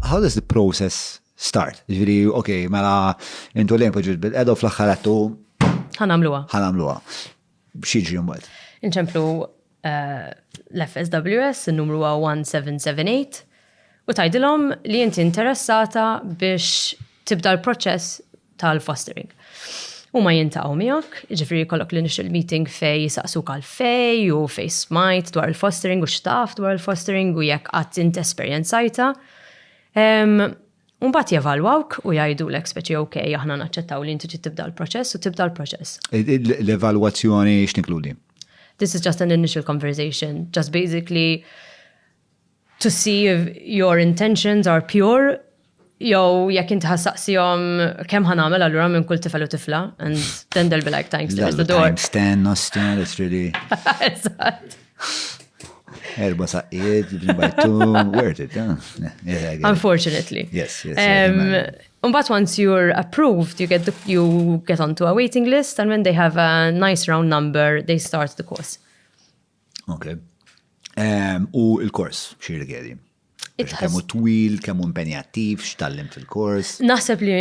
How does the process start? Ġviri, ok, mela intu lejn poġġiet bil-qeda u fl-axħar għattu. Ħanamluwa. Ħanamluwa. Xieġri mbagħad. Inċemplu eh, l-FSWS, il-numru 1778, u tajdilom li inti interessata biex tibda l-proċess tal-fostering. Huma jintaqgħu miegħek, jiġifieri jkollok l-initial meeting fej jisaqsuk għal fej u fej smajt dwar il-fostering u xtaf dwar il-fostering u jekk qatt int esperjenzajta. Umbat jevalwawk u jajdu l-ek speċi ok, aħna naċċettaw li inti tibda l-proċess u tibda l-proċess. E, e, l-evalwazzjoni x'tinkludi? This is just an initial conversation, just basically to see if your intentions are pure jew jekk inti ħa saqsihom kemm ħa nagħmel allura minn kull tifel u tifla and then they'll be like thanks to the door. Thanks ten nostra that's really. Eżatt. Erba saqqiet, bajtu, worth it, huh? Yeah, Unfortunately. Yes, yes. Um, um, but once you're approved, you get the, you get onto a waiting list, and when they have a nice round number, they start the course. Ok. Ehm, u il-kors, xie rigedi? Kemmu twil, kemmu impenjattiv, xtallim fil-kors? Naħseb li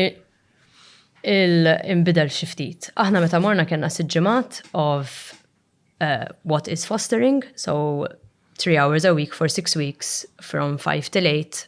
il-imbidel xiftit. Aħna meta morna kena siġġimat of uh, what is fostering, so three hours a week for six weeks from five till eight